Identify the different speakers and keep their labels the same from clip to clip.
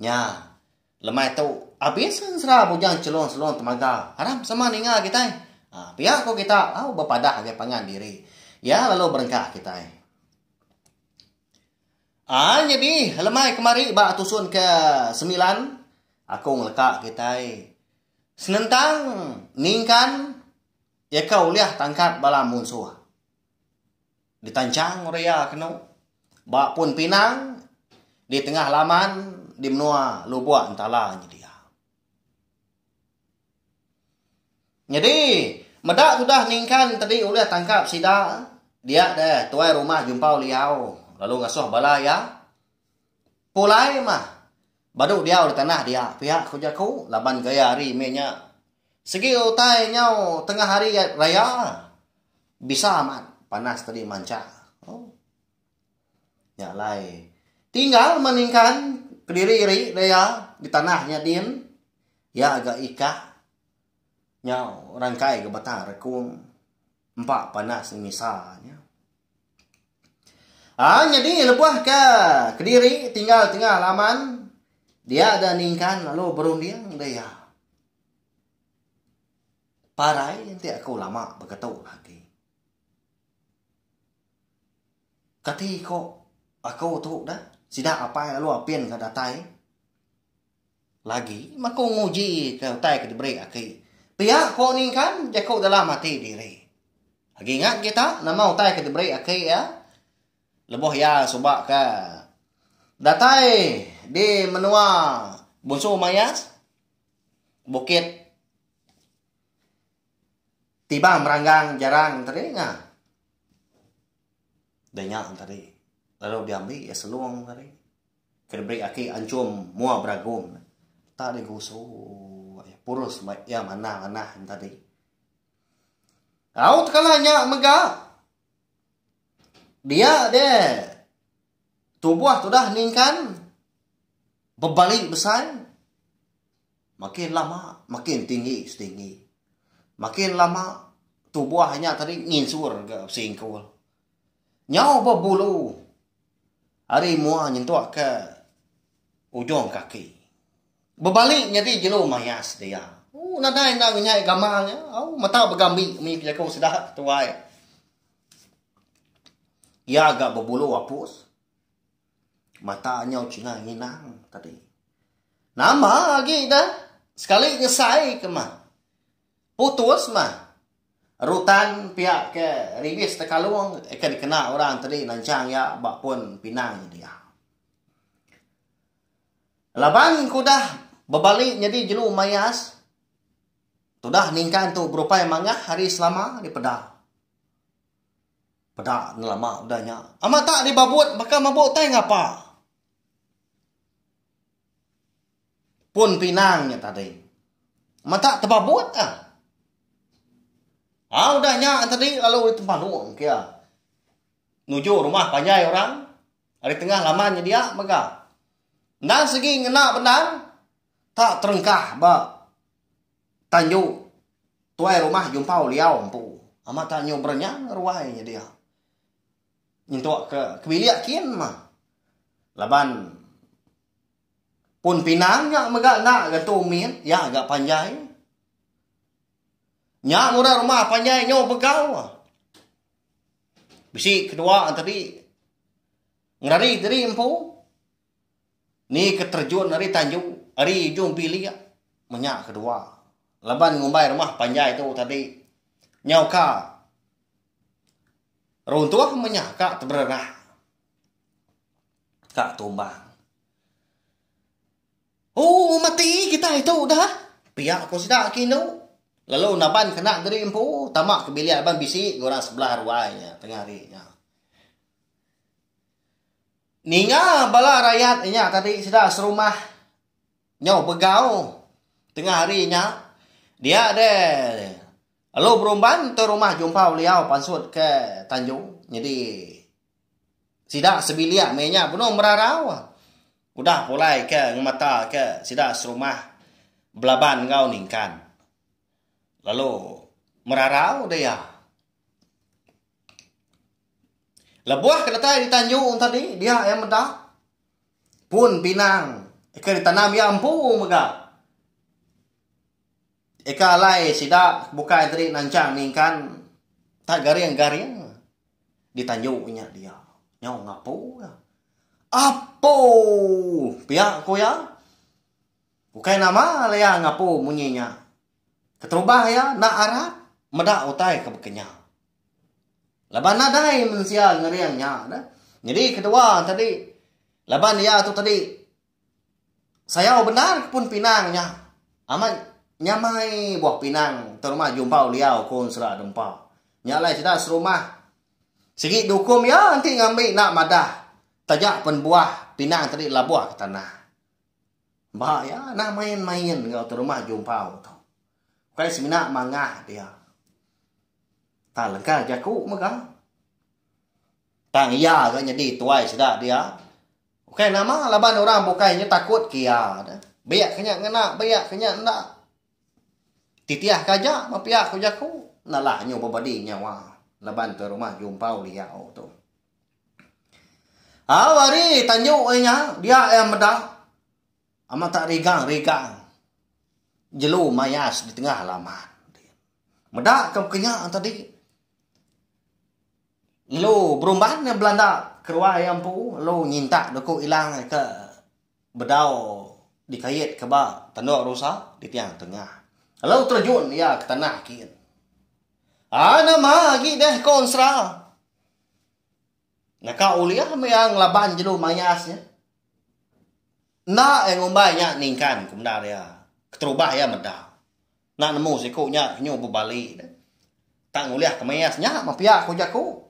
Speaker 1: Nya. Lemai tu, abis ensera bujang chelong-chelong temaga. Haram sama ninga kitai. Ah, pia ko kita lalu bepadah ngagai pangan diri. Iya lalu berengkah kitai. Ah, nyadi lemai kemari ba tusun ke semilan, aku ngeleka kitai senentang ningkan iya ka ulih tangkap bala munsuh. Ditanchang Uria kenu ba pun pinang di tengah laman di menua Lubok Entala nyedia. Nyadi, meda tudah Ningkan tadi ulih tangkap sida, dia deh tuai rumah Jumpau Liau lalu ngasuh bala iya. Pulai mah. Badu diau di tanah dia pia ku jaku laban gaya hari meh nya. Sigi utai nyau tengah hari raya. Bisa amat panas tadi manca. Oh. Nya alai. Tinggal maningkan kediri ari dia di tanah nya din. Iya ga ika nyau rangkai ga bata rekung empa panas misa nya. Ha nyadi lebuh ke kediri tinggal tengah laman dia ada ningkan lalu berunding da iya. Parai enti aku lama beketu agi. Kati ko aku tu dah sida apai lalu apin ke datai. Lagi maku nguji ke utai ke diberi aki. Pia ko ni kan jaku dalam ati diri. Agi ingat kita nama utai ke diberi aki iya? Lebuh iya suba ke datai di menua Bunsu Mayas, Bukit Tibang Meranggang Jarang tadi ngah. Denya tadi. Lalu diambi iya selong tadi. Ke diberi aki anchum mua beragum ne. Tak deh gusu ai purus ba iya manah manah nya tadi. Au tekala nya mega. Dia deh tubuh tudah ningkan bebali besai makin lama makin tinggi setinggi. Makin lama tubuh nya tadi nginsur ga besingkul. Nyau ba bulu. Ari mua nyentuk ke ujung kaki. Bebali nyadi jelu maya sedia. Ooh nadai enda ngenyai gamal nya. Au mata begambi munyi ke jaku sida ke tuai. Iya ga bebulu apus. Mata nyau chinga nginang tadi. Nama agi dah sekali nyesai ke mah. Putus mah. Rutan pia ke Ribis Tekalong ke dikena orang tadi nansang iya ba pun pinang dia. Laban ku udah bebali nyadi jelu mayas, tudah ningkan tu berupai mangah hari selama ari peda. Peda nelama udah nya. Amat tak dibabut baka mabuk tai ngapa. Pun pinang nya tadi. Mata tebabut ka. Ha udah nya tadi lalu ari tempa long kia. Nuju rumah panjai orang. Ari tengah laman nya dia mega. Endang sigi ngena bendang tak terengkah ba tanju tuai rumah jumpau liau empu. Amat tak nyu berenyang ruai nya dia. Nyentuk ke bilik kin mah. Laban pun pinang nya mega enda getu min, iya ga panjai. Nya murah rumah panjai nyau begau. Bisi kedua tadi ngerari diri empu ni ke terjun ari tanju ari ujung bilik meh nya kedua. Laban ngumbai rumah panjai tu tadi nyau ka Runtuh menya ka teberenah. Ka tumbang. Oh, mati kita itu dah. Pia ko sida ki nu. Lalu naban kena diri empu, tama ke bilik abang bisi ke orang sebelah ruai nya tengah hari nya. Ninga bala rakyat nya tadi sida serumah nyau begau tengah hari nya. Dia de Lalu berumban entu rumah jumpa beliau pansut ke Tanjung nyedi sida sebilik meh nya benung merarau udah pulai ke ngemata ke sida serumah belaban enggau ningkan lalu merarau deh iya. Lebuh ke datai di Tanjung tadi dia iya meda pun pinang ke ditanam iya empu mega. Eka alai sida bukai diri nanchang ningkan tak garing-garing di tanju nya dia. Nyau ngapu iya. Apu! Pia ku iya. Ukai nama lalu iya ngapu munyi nya. Keterubah iya enda arap meda utai ke baka nya. Laban nadai mensia ngering nya. Nyadi kedua tadi laban iya tu tadi Sayau bendar kepun pinang nya. Amat nyamai buah pinang terumah Jumpau Liau ku Ensera Dempa. Nya alai sida serumah sigi diukum iya enti ngambi enda madah taja pen buah pinang tadi labuh ke tanah. Ba iya anang main-main enggau terumah Jumpau tu. Ukai semina mangah dia. Tang lengka jaku mega. Tang iya ga nyadi tuai sida dia. Ukai nama laban orang bukai nya takut ke iya ne. Biak ke nya ngena, biak ke nya enda. Titih ke aja ba pia ku jaku, nalah nyu bebadi nyawa laban ke rumah jumpau liau tu. Au ari tanju ai nya dia iya meda amat tak rigang-rigang jelu mayas di tengah laman. Meda ke kenya tadi. Lu berumban belanda keruai iya empu lu nyintak doku ilang ke bedau dikait ke ba Tandok Rusa di Tiang Tengah. Lu terjun iya ke tanah kin. A nama agi deh ko ensera. Naka ulih meh iya ngelaban jelu mayas nya. Enda iya ngumbai nya ningkan ku bendar iya keterubah iya meda. Enda nemu siku nya nyu bebali deh. Tak ngulih kemis nya mepia ku jaku.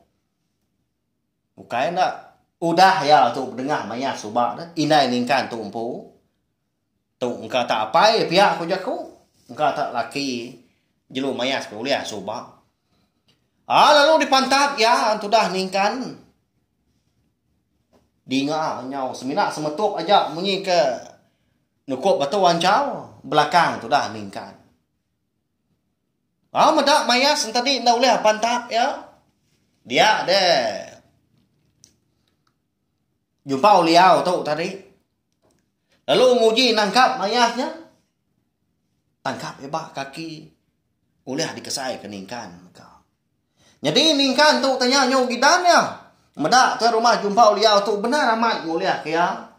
Speaker 1: Bukai enda. Udah iya tu bedengah maya suba deh indai ningkan tu empu. Tu engka tak apai pia ku jaku. Engka tak laki jelu maya ke ulih suba. Aa lalu dipantat iya tudah ningkan. Dinga nyau semina semetup aja munyi ke Nukup batu anchau belakang tudah ningkan. Au meda mayas entadi enda ulih pantap iya. Dia de. Jumpa uliau tu tadi. Lalu nguji nangkap mayasnya. Tangkap iba kaki ulih dikesai ke ningkan ka. Jadi ningkan tu tanya nyu gidan ya. Meda ke rumah jumpa uliau tu benar amat ngulih ke ya.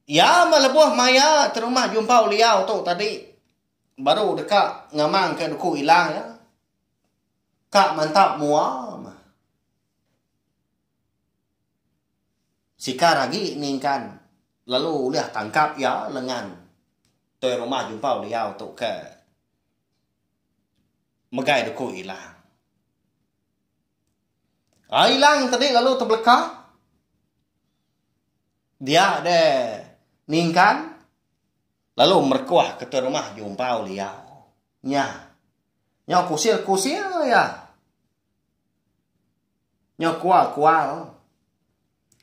Speaker 1: Iya meh lebuh maya terumah jumpa uliau tu tadi baru deka ngamang ka duku ila iya. Ka mantap mua meh. Sikar agi ningkan lalu ulih tangkap iya lengan toi rumah jumpa uliau tu ke megai duku ila. Ai ilang te dik lalu tebeleka. Diak de ningkan lalu merekoh ke te rumah jumpau liau. Nya. Nya kusil kusil ya. Nya kual kual.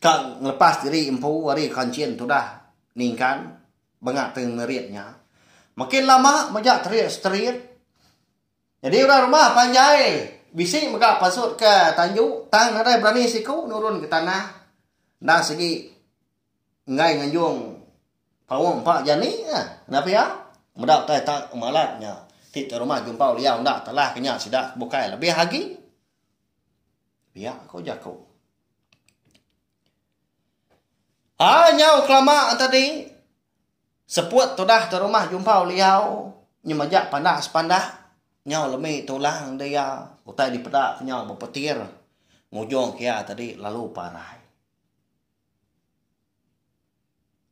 Speaker 1: Ka ngelepas diri empu ari kanchin tudah ningkan bengat te ngerit nya. Makin lama majak terit seterit. Nyadi orang rumah panjai bisi mega pasut ke tanju tang nadai berani siku nurun ke tanah enda segi enggai nganjung paung empa jani ka kena pia meda utai tak malat nya ti tuan rumah jumpau liau enda telah ke nya sida ke bukai lebih agi pia ku jaku. Ai nyau kelama tadi. Seput tudah te rumah jumpau liau nyemeja pandak sepandak nyau lemi tulang de iya utai dipeda ke nyau bepetir ngujung ke iya tadi lalu parai.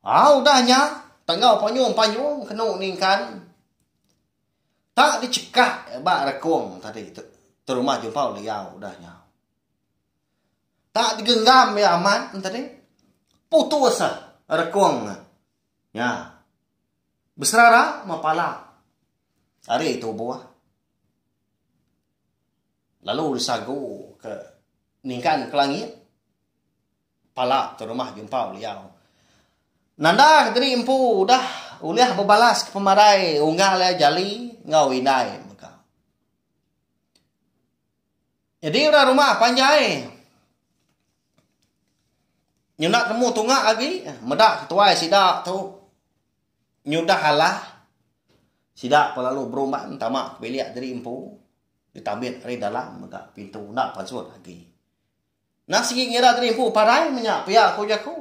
Speaker 1: Au udah nya tenggau panyung panyung kenu ningkan tak dichekak ba rekung tadi te rumah jumpau liau udah nya. Tak digenggam iya amat enti tadi. Putus ah rekung ne. Nya. Beserara meh pala. Ari tubuh. Lalu disagu ke ningkan ke langit. Pala tu rumah jumpau liau. Nanda ke tadi empu udah ulih bebalas ke pemarai unggal iya jali enggau indai. Nyadi orang rumah panjai nyunak temu tunga agi meda ketuai sida tu nyudah alah sida pa lalu berumban tama ke bilik diri empu ditambit ari dalam mega pintu enda pasut agi. Nah sigi ngira diri empu parai menya pia ku jaku.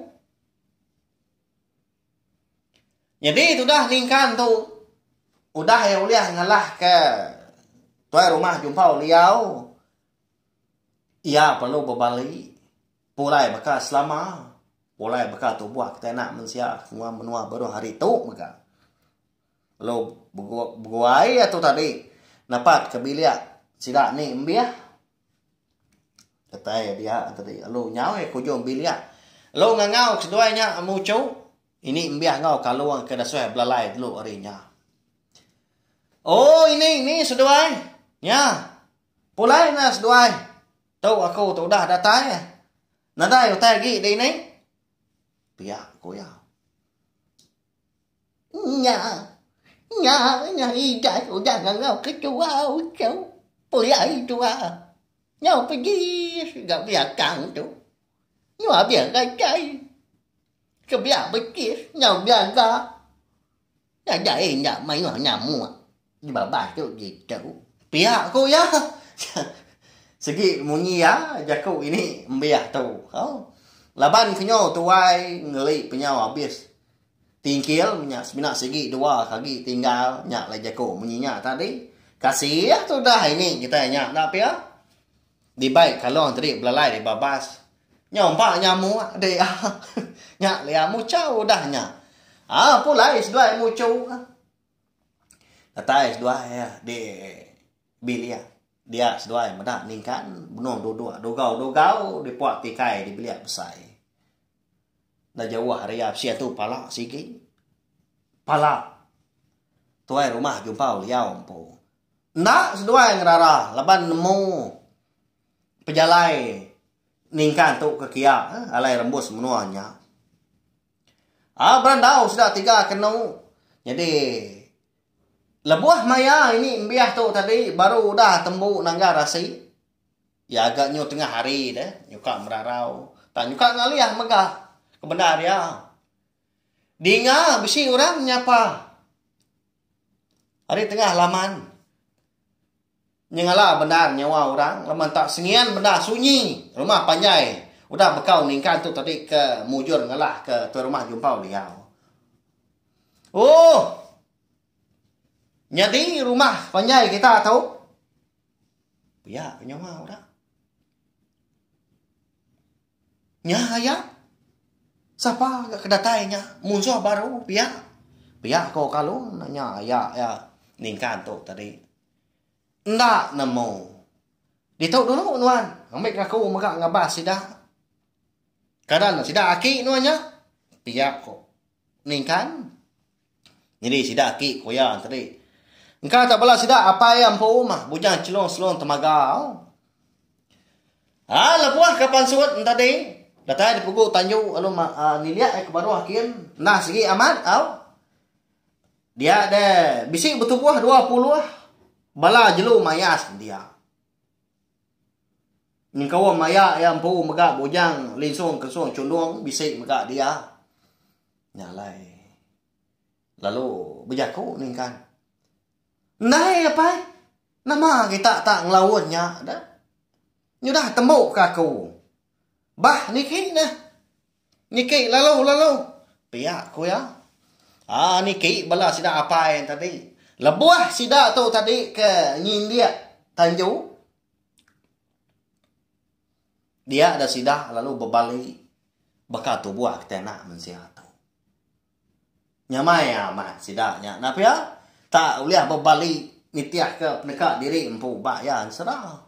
Speaker 1: Nyadi tudah ningkan tu udah iya ulih ngalahka tuai rumah jumpau liau iya perlu bebali pulai baka selama pulai baka tubuh kitai anak mensia semua menua baruh hari tu mega lalu beguai iya tu tadi napatka bilik sida ni embih. Datai dia tadi lalu nyau iya ke ujung bilik. Lalu ngangau seduai nya muchu. Ini embih enggau kalung ke dasuh belalai telu hari nya. Oh ini ni seduai. Nya. Pulai na seduai. Tu aku tu udah datai. Nadai utai agi dini. Pia ku iya. Nya,
Speaker 2: nya, nya idas udah ngangau ketua uchu pulai tua nyau pedis ga belakang tu. Nyu abih gachai. Sebelah betis nyau belaga. Nadai enda mayuh nyamuk. Nyebabas tu ditu. Pia ku iya.
Speaker 1: Segi munyi iya jaku ini embih tu. Au. Laban ke nyo tuai ngeli penyau abis tingkil nya semina segi dua ke agi tinggal nya alai jaku munyi nya tadi. Kasih tudah ini kitai nya enda pia. Dibai kalong tadi belalai dibabas. Nyo empa nya amuk dik ah. Nya alai muchau udah nya. Au pulai seduai muchu. Datai seduai iya di bil iya. Dia seduai meda ningkan benung duduk dugau-dugau di puak tikai di bilik besai. Enda jauh ari iya bisi atu pala sigi. Pala tuai rumah jumpau liau empu. Enda seduai ngerara laban nemu pejalai ningkan tu ke kiya alai rembus menua nya. Au berandau sida tiga kenu nyadi lebuh maya ini embih tu tadi baru udah tembu nanggar asi iya ga nyu tengah hari de nyuka merarau tang nyuka ngalih mega kebendar iya dinga bisi orang nyapa ari tengah laman Nyengala bendar nyawa orang lebuh enta sengian bendar sunyi rumah panjai udah bekau ningkan tu tadi ke mujur ngelah ke tuai rumah jumpau liau. Ooh. Nyadi rumah panjai kita tu pia ke nyawa orang. Nya aya sapa ga ke datai nya munsuh baru pia. Pia ko Kalung nya aya ningkan tu tadi. Enda nemu. Ditu dulu nuan ambi ke aku mega ngabas sida. Kada ne sida aki nuan nya. Pia ko Ningkan. Nyadi sida aki ko iya tadi. Engka tak bala sida apai iya empu mah bujang chelong selong temaga. Ha lebuh ka pansut enti tadi datai dipugu tanju lalu nilik ai ke baruh kin. Nah sigi amat au. Dia de bisi betubuh dua puluh bala jelu maya sedia. Nyengkaum maya iya empu mega bujang linsung kensung chundung bisi mega dia. Nya alai. Lalu bejaku ningkan. Ndai apai. Nama kita tak ngelaun nya de. Nyudah tembu ke aku. Bah niki neh. Niki lalu-lalu pia ku iya. Aa niki bala sida apai tadi. Lebuh sida tu tadi ke nyindik tanju dia da sida lalu bebali baka tubuh ke tena mensia tu. Nyamai amat sida nya nah pia tak ulih bebali nitih ke peneka diri empu ba iya ensera.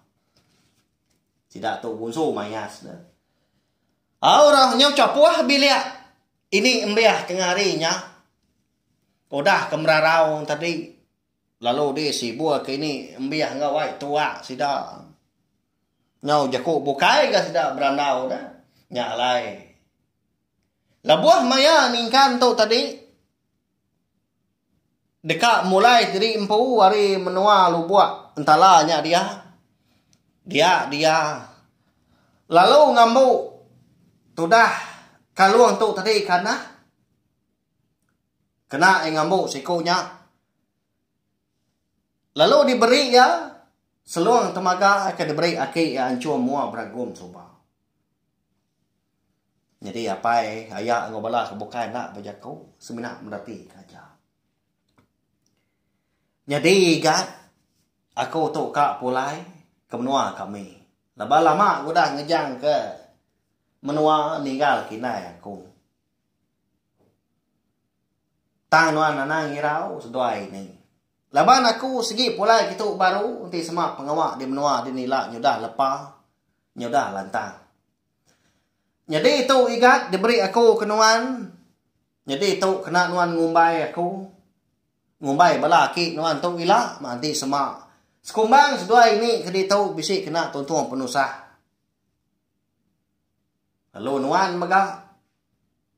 Speaker 1: Sida tu bunsu mayas ne. Au orang nyau chapuh bilik ini embih tengah hari nya udah ke merarau tadi lalu di sibur ke ini embih enggau ai tua sida nyau jeku bukai ga sida berandau da nya alai lebuh maya ningkan tu tadi. Deka mulai diri empu ari menua lubok entala nya dia. Dia dia lalu ngambu tudah kalung tu tadi kanah kena iya ngambu siku nya lalu diberi iya selong temaga ke diberi aki iya anchung mua beragum suba. Nyadi apai, aya enggau bala ke bukai enda bejaku semina meretika aja. Nyadi ga aku tu ka pulai ke menua kami. Laban lama aku udah ngejang ke menua ninggal ke indai aku. Tang nuan anang ngirau seduai ni. Laban aku sigi pulai kitu baru enti sema pengawa di menua dini ila nyudah lepa. nyudah lantang. Nyadi tu igat diberi aku ke nuan, nyadi tu kena nuan ngumbai aku. Ngumbai bala aki nuan tu ila, meh enti sema. Sekumbang seduai ini ke ditu bisi kena tuntung penusah. Lalu nuan mega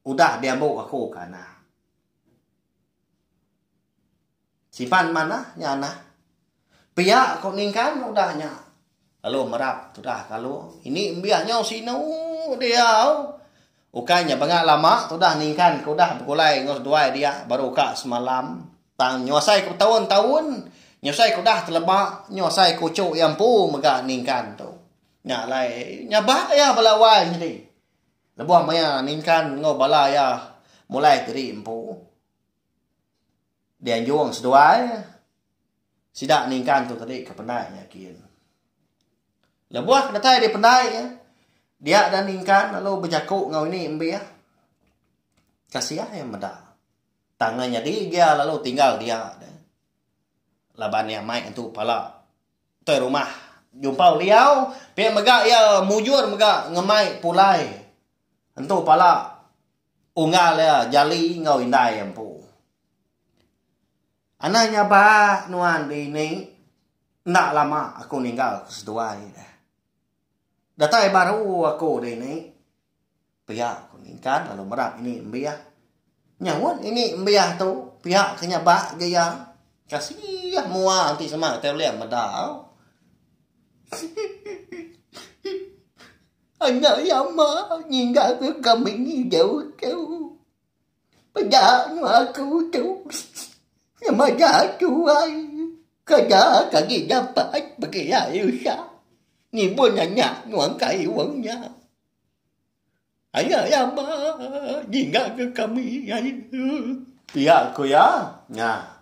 Speaker 1: udah diambu aku ke anak. Siban manah nya nah. Pia ko ningkan udah nya. Lalu merap tudah kalu ini embia nyau sinu diau. Ukai nya banga lama tudah ningkan ko udah begulai enggau seduai dia baru ka semalam. Tang nyuasai ko betaun-taun nyuasai ko udah teleba nyuasai ko uchu iya empu mega ningkan tu. Nya alai nyabak iya bala wai nyadi. Lebuh maya ningkan enggau bala iya mulai ke diri empu. Dianjung seduai sida ningkang tu tadi ke pendai nyakin. Lebuh ke datai di pendai ya, dia dan ningkang lalu bejaku ngau ini embih. Kasih ya meda. Tangan nyadi dia lalu tinggal dia. Laban dia mai entu pala toi rumah jumpau liau pia mega iya mujur mega ngemai pulai entu pala Unggal iya jali enggau indai iya empu. Anang nya ba nuan dini enda lama aku ninggal ke seduai deh. Datai baru aku dini pia ku ningkan lalu merap ini embih. Nyahut ini embih tu pia ke nya ba ga iya. Kasih mua enti sema kitai ulih meda. Anak yama ninggalka kami jauh-jauh. Peda nua ke utus nyemada tuai. Kada ke agi dapat bekila Elsa ngibun anak nuan kai wang nya. Anak yama ninggalka kami jauh-jauh. Pia
Speaker 2: ku iya nya.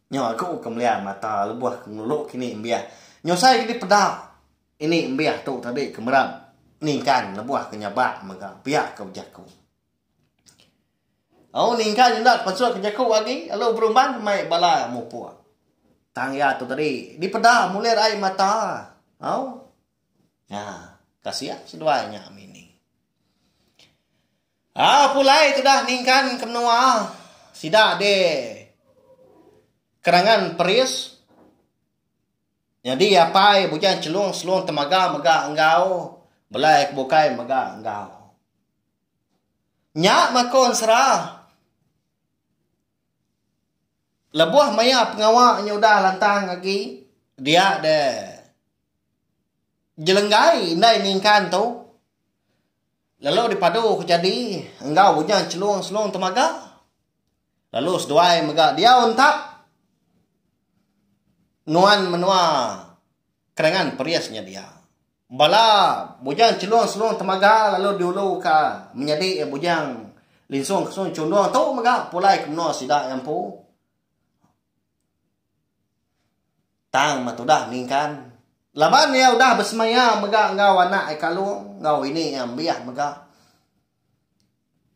Speaker 2: Nyau aku ke melian mata lebuh ke ngulu kini mbiak. Nyusai ke dipeda. Ini embih tu tadi ke meram ningkan lebuh ke nyabak mega pia ke bejaku. Au ningkan enda pasal ke jaku agi lalu berumban mai bala mupuk. Tang iya tu tadi dipeda mulir ai mata. Au. Nya kasian seduai nya amin ni. Ah pulai tudah ningkan ke menua sida di kerangan peris. Nyadi apai bujang chelung selung temaga mega enggau belai ke bukai mega enggau. Nya makon sera lebuh maya pengawa nya udah lantang agi dia de jelenggai indai ningkan tu lalu dipadu ke jadi enggau bujang chelung selung temaga. Lalu seduai mega diau entap nuan menua kerangan Perris nyedia bala bujang chelung-chelung temaga lalu diuluka menyadi bujang
Speaker 1: linsung-linsung chundung tu mega pulai ke menua sida iya empu. Tang meh tudah ningkan laban iya udah besemaya mega enggau anak iya kalung enggau ini iya embih mega.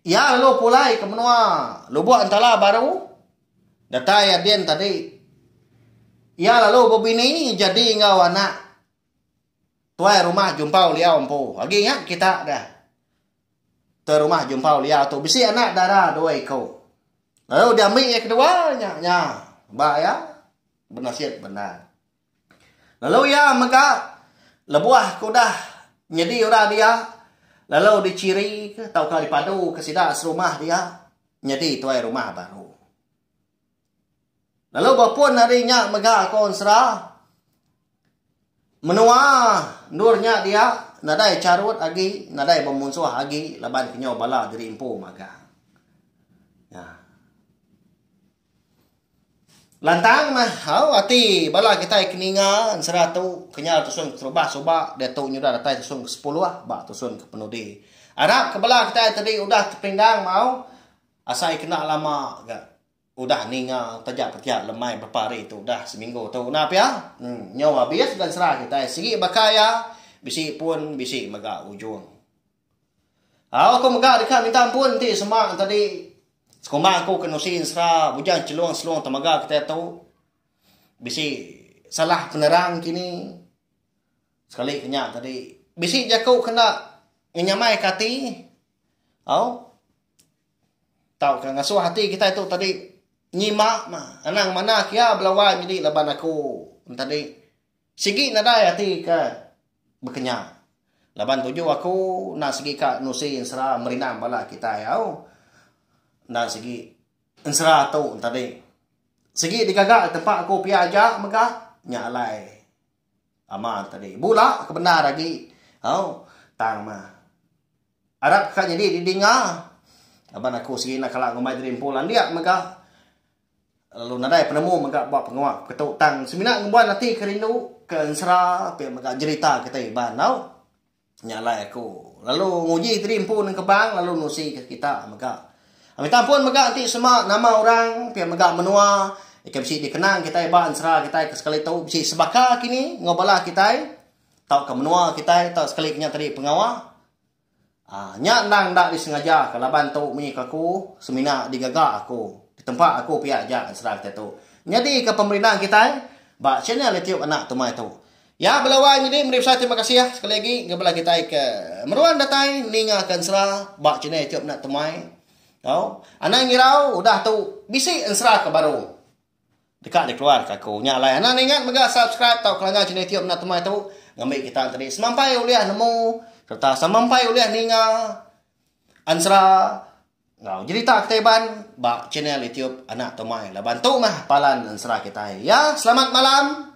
Speaker 1: Iya lalu pulai ke menua Lubok Entala baru datai adin tadi. Iya lalu bebini jadi enggau anak tuai rumah Jumpau Liau empu. Agi ingat kita deh. Tuai rumah Jumpau Liau tu bisi anak dara dua iku. Lalu diambi iya kedua nya nya ba iya benasit bendar. Lalu iya mega lebuh ke udah nyedi orang dia lalu dichirika tauka dipaduka sida serumah dia nyedi tuai rumah baru. Lalu ba pun ari nya mega konsera menua endur nya dia nadai charut agi nadai bemunsuh agi laban kenyau bala diri empu magang. Nya. Lantang mah hau ati bala kitai ke ninga ensera tu kenyau tusun ke terubah suba diatu nyudah datai tusun ke sepuluh ba tusun ke penudi. Arap ke bala kitai tu dih udah tepindang mau asai kena lama ga udah ninga taja pun tiap lemai berapa hari tu udah seminggu tu na pia uhh nyau abis ga ensera kitai sigi baka iya bisi pun bisi mega ujung. Au aku mega deka minta ampun enti sema tadi sekumbang aku ke nusi ensera bujang chelung selung temaga kitai tu bisi salah penerang kini sekali ke nya tadi bisi jaku ke enda ngenyamaika ati au tauka ngasuh ati kitai tu tadi nyima anang manah kiya bala wai nyadi laban aku tadi. Sigi nadai ati ke bekenya. Laban tuju aku enda sigi ka nusi ensera merindang bala kitai au. Enda sigi ensera tu entadi. Sigi digaga di tempat aku pia aja mega nya alai ama entadi. Bula ke bendar agi au tang mah. Arap ka nyadi didinga laban aku sigi enda kala ngumbai diri empu landik mega. Lalu nadai penemu mega ba pengawa peketu tang semina ngembuan ati ke rindu ke ensera pia mega jerita kita iban enggau nya alai aku lalu nguji diri empu nengkebang lalu nusika kita mega mita ampun mega enti sema nama orang pia mega menua ika bisi dikenang kitai ba ensera kitai ke sekali tu bisi sebaka kini enggau bala kitai tauka menua kitai tauka sekali nya tadi pengawa. Aaa nya endang enda disengaja ka laban tu munyi ka aku semina digaga aku ditempa aku pia aja serang ketetu nyadi ka pemerindang kitai ba channel YouTube anak tumai tu. Ya bela wai nyadi meri besai terima kasih sekali agi ga bela kitai ke meruan datai ninga ka ensera ba channel YouTube anak tumai tau anang irau udah tu bisi ensera ka baru. Deka dikeluar ka aku. Nya alai anak ningat mega subscribe tau ke langgar channel itiu mena temai tu ngambi kita tadi semampai ulih nemu serta semampai ulih ninga ansra enggau jerita kita iban ba channel itiu anak temai laban tu mah palan ansra kitai ya selamat malam.